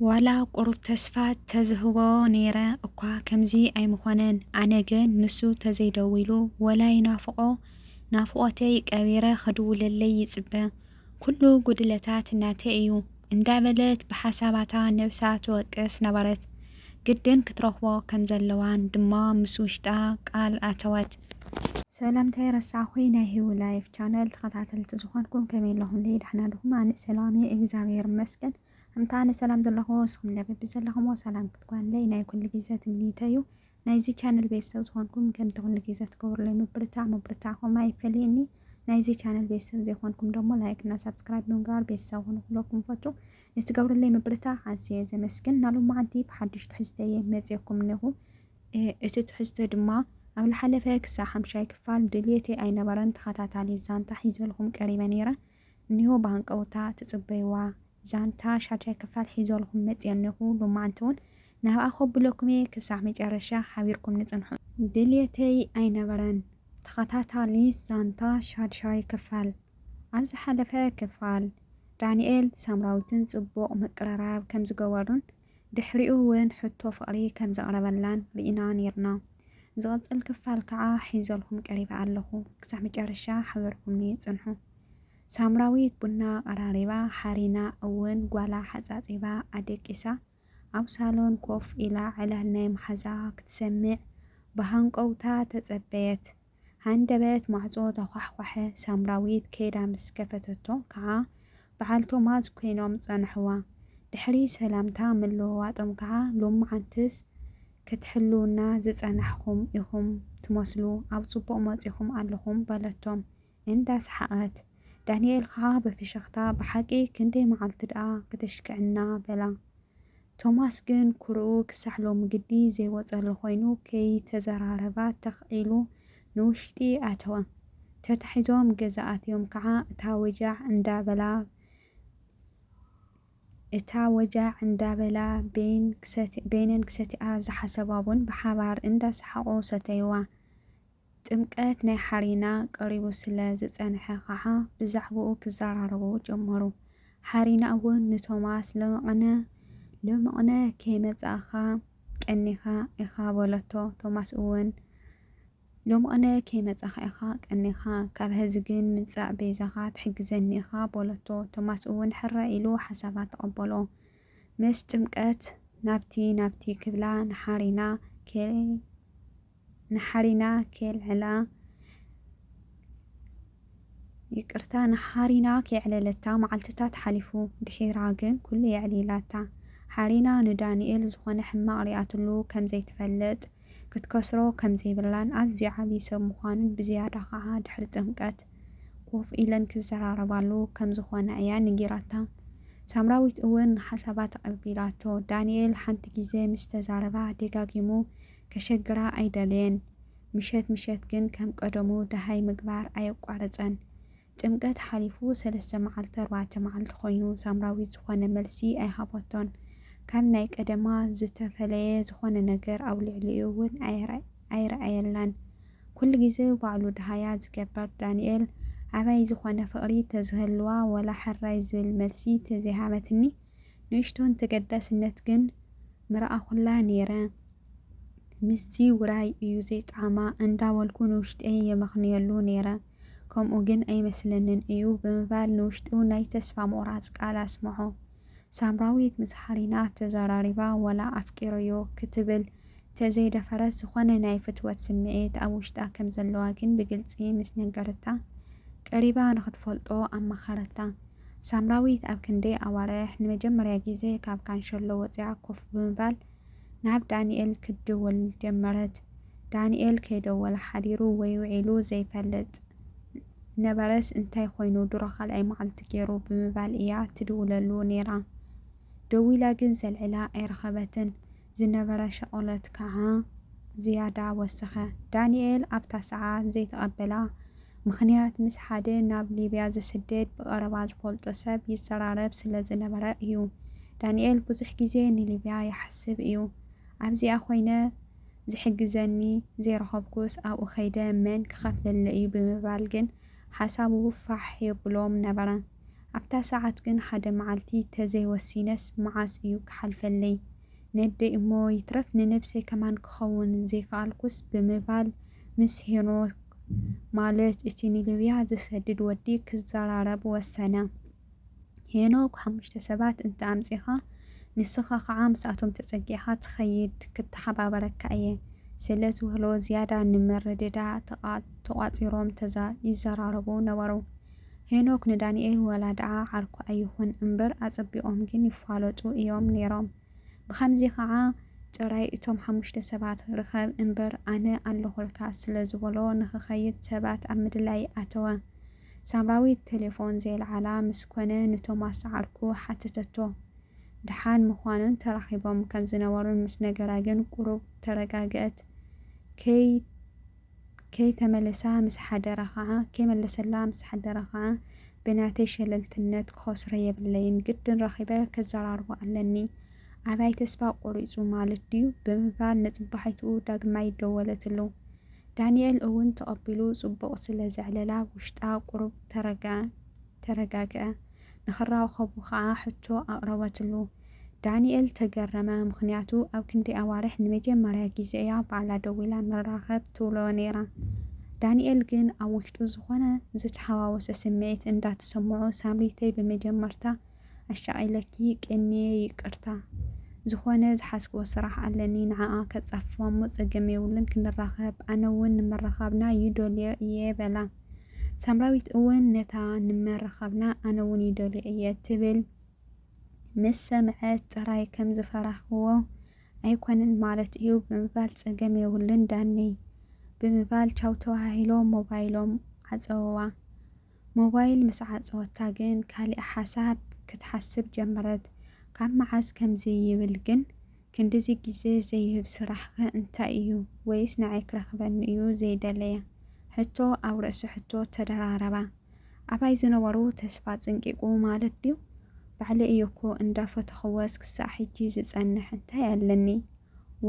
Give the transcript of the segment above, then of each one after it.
ዋላ ቁሩብ ተስፋ ተዝህቦ ነይረ እኳ ከምዚ ኣይምኾነን ኣነ ግን ንሱ ተዘይደዊሉ ወላ ይናፍቆ ናፍቆተይ ቀቢረ ክድውለለይ ይጽበ ኩሉ ጉድለታት ናተይ እዩ እንዳበለት ብሓሳባታ ነብሳ ትወቅስ ነበረት ግድን ክትረኽቦ ከምዘለዋን ድማ ምስ ውሽጣ ቃል ኣተወት። ሰላም እንታይ ረሳዕኩይ ናይ ሂዊ ላይፍ ቻነል ተኸታተልቲ ዝኾንኩም ከመይ ኣለኹምለይ ዳሕና ድኹም ኣነ ሰላም እየ እግዛብሄር ይመስገን። እምታ ኣነ ሰላም ዘለኹዎ ንስኹም ለ በቢ ዘለኹምዎ ሰላም ክትጓንለይ ናይ ኩሉ ግዜ ትምኒተይ እዩ። ናይዚ ቻነል ቤተሰብ ዝኾንኩም ከምቲ ኩሉ ግዜ ትገብሩለይ ምብርታዕ ምብርታዕኹም ኣይፈለየኒ። ናይዚ ቻነል ቤተሰብ ዘይኮንኩም ደሞ ላይክ እና ሳብስክራይብ ብምግባር ቤተሰብ ኹኑ ክብለኩም ፈቱ ንትገብሩለይ ምብርታዕ ኣዝየ ዘመስግን እና ሎማዓንቲ ብሓዱሽ ትሕዝተ እየ መፅየኩም እኔኹ እቲ ትሕዝተ ድማ ኣብ ልሓለፈ ክሳብ ሓምሻይ ክፋል ድልየተይ ኣይነበረን ተኸታታሊ ዛንታ ሒዘልኹም ቀሪበ ነይረ እኒሆ ብሃንቀውታ ትጽበይዋ ዛንታ ሻድሻይ ክፋል ሒዘልኹም መጽየ ኣለኹ ሎማዓንቲ ውን ናብኣ ከብለኩም እየ ክሳዕ መጨረሻ ሓቢርኩምኒ ጽንሑ። ድልየተይ ኣይነበረን ተኸታታሊት ዛንታ ሻድሻይ ክፋል ኣብ ዝሓለፈ ክፋል ዳኒኤል ሳምራዊትን ጽቡቕ ምቅርራብ ከምዝገበሩን፣ ድሕሪኡ ውን ሕቶ ፍቕሪ ከም ዘቕረበላን ርኢና ኔርና። ዝቕጽል ክፋል ከኣ ሒዘልኩም ቀሪበ ኣለኹ ክሳዕ መጨረሻ ሓቢርኩምኒ ጽንሑ። ሳምራዊት ቡና ኣቐራሪባ፣ ሓሪና እውን ጓላ ሓጻጺባ ኣደቂሳ ኣብ ሳሎን ኮፍ ኢላ ዕላል ናይ መሓዛኣ ክትሰምዕ ብሃንቀውታ ተጸበየት። ሃንደበት ማዕጾ ተዃሕኳሐ፣ ሳምራዊት ከይዳ ምስ ከፈተቶ ከኣ በዓል ቶማስ ኮይኖም ጸንሕዋ። ድሕሪ ሰላምታ ምልውዋጦም ከኣ ሎምዓንትስ ክትሕልዉና ዝጸናሕኩም ኢኹም ትመስሉ ኣብ ጽቡቕ መጺኹም ኣለኹም በለቶም እንዳ ሰሓቐት። ዳንኤል ከኣ ብፍሽኽታ ብሓቂ ክንደይ መዓልቲ ደኣ ክተሽክዕና በላ። ቶማስ ግን ኩርኡ ክሳዕ ሎሚ ግዲ ዘይወጸሉ ኮይኑ ከይተዘራረባ ተኽ ኢሉ ንውሽጢ ኣተወ። ተታሒዞም ገዛ ኣትዮም ከኣ እታ ወጃዕ እንዳበላ እታ ወጃዕ እንዳበላ በይን በይነን ክሰትያ ዝሓሰባ ቡን ብሓባር እንዳሰሓቑ ሰተዩዋ። ጥምቀት ናይ ሓሪና ቀሪቡ ስለ ዝጸንሐ ኸኣ ብዛዕባኡ ክዘራረቡ ጀመሩ። ሓሪና'ውን ንቶማስ ሎምቕነ ሎምቕነ ከይመጻእካ ቀኒኻ ኢኻ በለቶ። ቶማስ'ውን ሎምቕነ ከይመጻእካ ኢኻ ቀኒኻ፣ ካብ ሐዚ ግን ምጻእ ቤዛኻ ትሕግዘኒ ኢኻ በለቶ። ቶማስ'ውን ሕራይ ኢሉ ሓሳባ ተቐበሎ። ምስ ጥምቀት ናብቲ ናብቲ ክብላ ንሓሪና ከ። ንሓሪና ኬልዕላ ይቅርታ ንሓሪና ኬዕለለታ መዓልትታት ሓሊፉ ድሒራ ግን ኩሉ የዕሊላታ ሓሪና ንዳኒኤል ዝኾነ ሕማቅ ሪኣትሉ ከም ዘይትፈልጥ ክትከስሮ ከም ዘይብላን ኣዝዩ ዓቢ ሰብ ምዃኑን ብዝያዳ ኸኣ ድሕሪ ጥምቀት ኮፍ ኢለን ክዘራረባሉ ከም ዝኾና እያ ነጊራታ ሳምራዊት እውን ንሓሳባ ተቀቢላቶ ዳኒኤል ሓንቲ ግዜ ምስ ተዛረባ ደጋጊሙ ከሸግራ ኣይደለየን። ምሸት ምሸት ግን ከም ቀደሙ ደሃይ ምግባር ኣየቋረጸን። ጥምቀት ሓሊፉ ሰለስተ መዓልቲ ኣርባዕተ መዓልቲ ኮይኑ ሳምራዊት ዝኾነ መልሲ ኣይሃቦቶን። ካብ ናይ ቀደማ ዝተፈለየ ዝኾነ ነገር ኣብ ልዕሊኡ እውን ኣይረኣየላን። ኩሉ ግዜ ባዕሉ ደሃያ ዝገበር ዳንኤል ኣባይ ዝኾነ ፍቕሪ ተዝህልዋ ወላ ሕራይ ዝብል መልሲ ተዘይሃበትኒ ንእሽቶን ተገዳስነት ግን ምረኣኹላ ነይረ። ምስዚ ውራይ እዩ ዘይጣዕማ እንዳበልኩ ንውሽጠይ የመኽንየሉ ነይረ። ከምኡ ግን ኣይመስለንን እዩ ብምባል ንውሽጡ ናይ ተስፋ ምቑራጽ ቃል ኣስምዖ። ሳምራዊት ምስ ሃሊና ተዘራሪባ ወላ ኣፍቂረዮ ክትብል ተዘይደፈረት ዝኾነ ናይ ፍትወት ስምዒት ኣብ ውሽጣ ከም ዘለዋ ግን ብግልጺ ምስ ነገረታ ቀሪባ ንኽትፈልጦ ኣማኸረታ። ሳምራዊት ኣብ ክንደይ ኣዋርሕ ንመጀመርያ ግዜ ካብ ካንሸሎ ወጺኣ ኮፍ ብምባል ናብ ዳኒኤል ክትድውል ጀመረት። ዳኒኤል ከይደወለ ሓዲሩ ወይ ውዒሉ ዘይፈልጥ ነበረስ እንታይ ኮይኑ ድሮ ካልኣይ መዓልቲ ገይሩ ብምባል እያ ትድውለሉ ነይራ። ደዊላ ግን ዘልዕላ ኣይረኸበትን። ዝነበረ ሻቕሎት ከዓ ዝያዳ ወሰኸ። ዳኒኤል ኣብታ ሰዓት ዘይተቐበላ ምኽንያት ምስ ሓደ ናብ ሊብያ ዝስደድ ብቐረባ ዝፈልጦ ሰብ ይዘራረብ ስለ ዝነበረ እዩ። ዳንኤል ብዙሕ ግዜ ንሊብያ ይሓስብ እዩ። ኣብዚኣ ኮይነ ዝሕግዘኒ ዘይረኸብኩስ ኣብኡ ከይደ መን ክኸፍለለይ እዩ ብምባል ግን ሓሳቡ ፋሕ የብሎም ነበረ። ኣብታ ሰዓት ግን ሓደ መዓልቲ ተዘይወሲነስ መዓስ እዩ ክሓልፈለይ? ነደይ እሞ ይትረፍ ንነብሰይ ከማን ክኸውን ዘይከኣልኩስ ብምባል ምስ ሄኖክ ማለት እቲ ንሊብያ ዝሰድድ ወዲ ክዘራረብ ወሰነ። ሄኖክ ሓሙሽተ ሰባት እንተ ኣምጺኻ ንስኻ ከኣ ምስኣቶም ተጸጊዕካ ትኸይድ ክተሓባበረካ እየ ስለ ዝበሎ ዝያዳ ንምርድዳእ ተቛጺሮም ይዘራረቡ ነበሩ። ሄኖክ ንዳኒኤል ዋላ ድኣ ዓርኩ ኣይኹን እምበር ኣጸቢቆም ግን ይፋለጡ ኢዮም ኔሮም ብኸምዚ ኸኣ ጥራይ እቶም ሓሙሽተ ሰባት ርኸብ እምበር ኣነ ኣለኹልካ ስለ ዝበሎ ንኽኸይድ ሰባት ኣብ ምድላይ ኣተወ ሳምራዊት ቴሌፎን ዘየልዓላ ምስ ኮነ ንቶማስ ዓርኩ ሓተተቶ ድሓን ምዃኑን ተራኺቦም ከም ዝነበሩን ምስ ነገራ ግን ቁሩብ ተረጋግእት ከይ ከይተመለሳ ምስ ሓደራ ኸዓ ከይመለሰላ ምስ ሓደራ ኸዓ ብናተይ ሸለልትነት ክኸስሮ የብለይን ግድን ረኺበ ከዘራርቦ ኣለኒ ኣባይ ተስፋ ቆሪፁ ማለት ድዩ ብምባል ንፅባሒትኡ ዳግማይ ደወለትሉ ዳኒኤል እውን ተቐቢሉ ፅቡቕ ስለ ዘዕለላ ውሽጣ ቁሩብ ተረግኣ ተረጋግዐ። ንኽራኸቡ ከኣ ሕቶ ኣቕረበትሉ። ዳኒኤል ተገረመ፣ ምኽንያቱ ኣብ ክንደይ ኣዋርሕ ንመጀመርያ ግዜ እያ ባዕላ ደዊላ ንራኸብ ትብሎ ነይራ። ዳኒኤል ግን ኣብ ውሽጡ ዝኾነ ዝተሓዋወሰ ስምዒት እንዳተሰምዖ ሳምሪተይ ብመጀመርታ ኣሻቒለኪ ቀንየ ይቅርታ። ዝኾነ ዝሓዝክዎ ስራሕ ኣለኒ ንዓኣ ከጻፍፋ'ሞ ጸገም የብሉን ክንራኸብ ኣነ'ውን ንምርኻብና ይደልዮ እየ በላ። ሳምራዊት እውን ነታ ንመርኻብና ኣነ እውን ይደልዮ እየ ትብል ምስ ሰምዐት ጥራይ ከም ዝፈራህክዎ ኣይኮነን ማለት እዩ ብምባል ጸገም የብሉን ዳኒ ብምባል ቻው ተዋሃሂሎም ሞባይሎም ዓጸውዋ። ሞባይል ምስ ዓጸወታ ግን ካሊእ ሓሳብ ክትሓስብ ጀመረት። ካብ መዓስ ከምዚ ይብል ግን? ክንድዚ ግዜ ዘይህብ ስራሕ'ኸ እንታይ ኢዩ? ወይስ ንዓይ ክረኽበኒ ኢዩ ዘይደለየ? ሕቶ ኣብ ርእሲ ሕቶ ተደራረባ። ኣባይ ዝነበሩ ተስፋ ጽንቂቑ ማለት ድዩ? ባዕለይ ኢየ እኮ እንዳ ፈተኽወስ ክሳዕ ሕጂ ዝጸንሕ እንታይ ኣለኒ?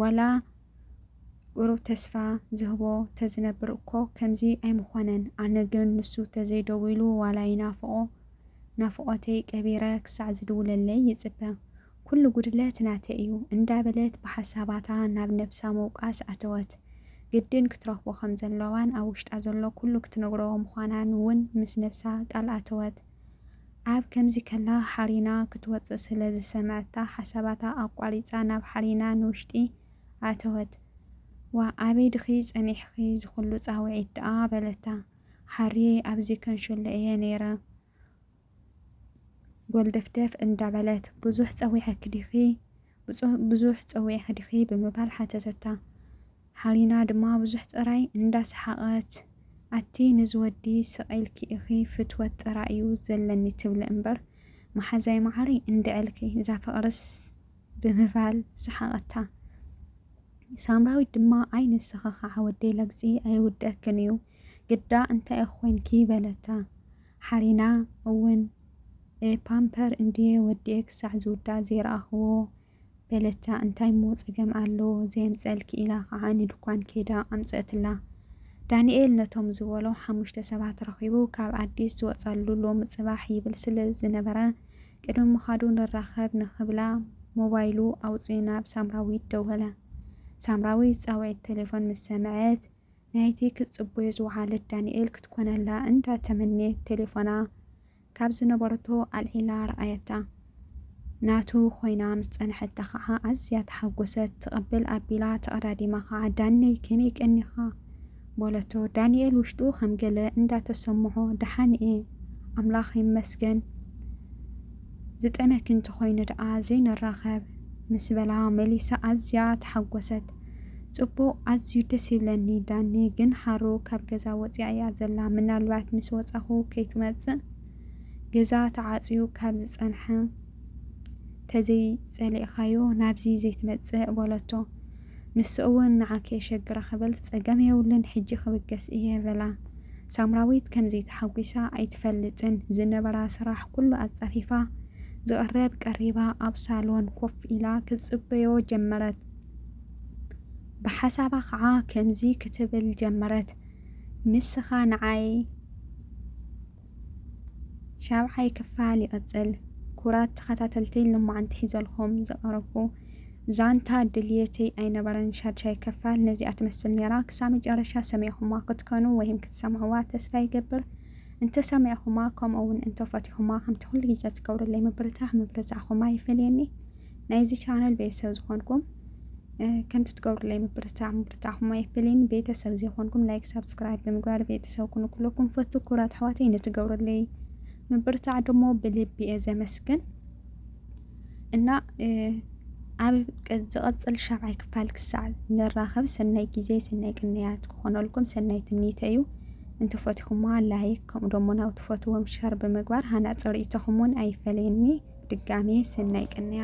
ዋላ ቁሩብ ተስፋ ዝህቦ ተዝነብር እኮ ከምዚ ኣይምኾነን። ኣነ ግን ንሱ ተዘይደዊሉ ዋላ ይናፍቖ ናፍቖተይ ቀቢረ ክሳዕ ዝድውለለይ ይጽበ። ኩሉ ጉድለት ናተይ እዩ እንዳበለት ብሓሳባታ ናብ ነብሳ ምውቃስ ኣተወት። ግድን ክትረኽቦ ከም ዘለዋን ኣብ ውሽጣ ዘሎ ኩሉ ክትነግሮ ምዃናን እውን ምስ ነብሳ ቃል ኣተወት። ኣብ ከምዚ ከላ ሓሪና ክትወጽእ ስለ ዝሰምዐታ ሓሳባታ ኣቋሪጻ ናብ ሓሪና ንውሽጢ ኣተወት። ዋእ ኣበይ ድኺ ጸኒሕኺ ዝኹሉ ጻውዒት ደኣ በለታ። ሓርየይ ኣብዚ ከንሸሎ እየ ነይረ። ጎልደፍደፍ እንዳበለት ብዙሕ ጸዊዐኪ ዲኺ ብዙሕ ጸዊዐኪ ዲኺ ብምባል ሓተተታ። ሓሊና ድማ ብዙሕ ጥራይ እንዳሰሓቐት ኣቲ ንዚ ወዲ ስቕ ኢልኪ ኢኺ ፍትወት ጥራይ እዩ ዘለኒ ትብሊ እምበር መሓዛይ መዓረይ እንድዕልኪ እዛ ፍቕርስ ብምባል ሰሓቐታ። ሳምራዊት ድማ ኣይ ንስኺ ከዓ ወደይ ለግጺ ኣይውደክን እዩ ግዳ እንታይ እኾይንኪ በለታ። ሓሪና እውን እ ፓምፐር እንድየ ወዲኤ ክሳዕ ዝውዳእ ዘይረኣኽዎ በለታ እንታይ እሞ ጸገም ኣሎ ዘየምጸልኪ ኢላ ኸኣ ንድኳን ከይዳ ኣምጸእትላ። ዳኒኤል ነቶም ዝበሎ ሓሙሽተ ሰባት ረኺቡ ካብ ኣዲስ ዝወጸሉ ሎሚ ጽባሕ ይብል ስለ ዝነበረ ቅድሚ ምኻዱ ንራኸብ ንኽብላ ሞባይሉ ኣውጺኡ ናብ ሳምራዊት ደወለ። ሳምራዊት ጻውዒት ተሌፎን ምስ ሰምዐት ናይቲ ክትጽበዮ ዝወዓለት ዳንኤል ክትኮነላ እንዳ ተመነየት ቴሌፎና ካብ ዝነበረቶ ኣልዒላ ረኣየታ። ናቱ ኮይና ምስ ጸንሐታ ከኣ ኣዝያ ተሓጎሰት። ትቕብል ኣቢላ ተቐዳዲማ ከኣ ዳነይ ከመይ ቀኒኻ? በለቶ። ዳንኤል ውሽጡ ከም ገለ እንዳ ተሰምዖ ደሓን እየ ኣምላኽ ይመስገን። ዝጥዕመኪ እንተኾይኑ ደኣ ዘይንራኸብ? ምስ በላ መሊሳ ኣዝያ ተሓጎሰት። ጽቡቕ ኣዝዩ ደስ ይብለኒ ዳኒ ግን ሃሩ ካብ ገዛ ወጺኣ እያ ዘላ ምናልባት ምስ ወጻኹ ከይትመጽእ ገዛ ተዓጽዩ ካብ ዝጸንሐ ተዘይጸሊእኻዮ ናብዚ ዘይትመጽእ በለቶ። ንሱ እውን ንዓኪ የሸግራ ክብል ጸገም የብሉን ሕጂ ክብገስ እየ በላ ሳምራዊት ከምዚ ተሓጒሳ ኣይትፈልጥን ዝነበራ ስራሕ ኩሉ ኣጻፊፋ ዝቅረብ ቀሪባ ኣብ ሳሎን ኮፍ ኢላ ክትጽበዮ ጀመረት ብሓሳባ ከኣ ከምዚ ክትብል ጀመረት ንስካ ንዓይ ሻብዓይ ክፋል ይቕጽል። ኩራት ተኸታተልተይን ልማዓንቲ ሒዘልኹም ዝቐረብኩ ዛንታ ድልየተይ ኣይነበረን ሻድሻይ ክፋል ነዚኣ ትመስል ኔራ ክሳብ መጨረሻ ሰሚዕኹማ ክትከኑ ወይም ክትሰምዕዋ ተስፋ ይገብር እንተ ሰሚዕኹማ ከምኡ ውን እንተ ፈቲኹማ ከምቲ ኩሉ ግዜ ትገብሩለይ ምብርታዕ ምብርታዕኹም ኣይፈለየኒ ናይዚ ቻነል ቤተሰብ ዝኾንኩም ከምቲ ትገብሩለይ ምብርታዕ ምብርታዕኹም ኣይፍልን። ቤተሰብ ዘይኮንኩም ላይክ፣ ሳብስክራይብ ብምግባር ቤተሰብ ኩኑ ኩለኩም ፈቱ ኩራት ኣሕዋተይ ንትገብሩለይ ምብርታዕ ደሞ ብልቢ እየ ዘመስግን እና ኣብ ዝቐፅል ሻብዓይ ክፋል ክሳዕ ንራኸብ ሰናይ ግዜ ሰናይ ቅንያት ክኾነልኩም ሰናይ ትምኒተ እዩ እንተፈትኹማ ላይክ ከምኡ ደሞ ናብ ትፈትዎም ሸር ብምግባር ሃናፂ ርእይቶኹም እውን ኣይፈለየኒ ድጋሜ ሰናይ ቅንያት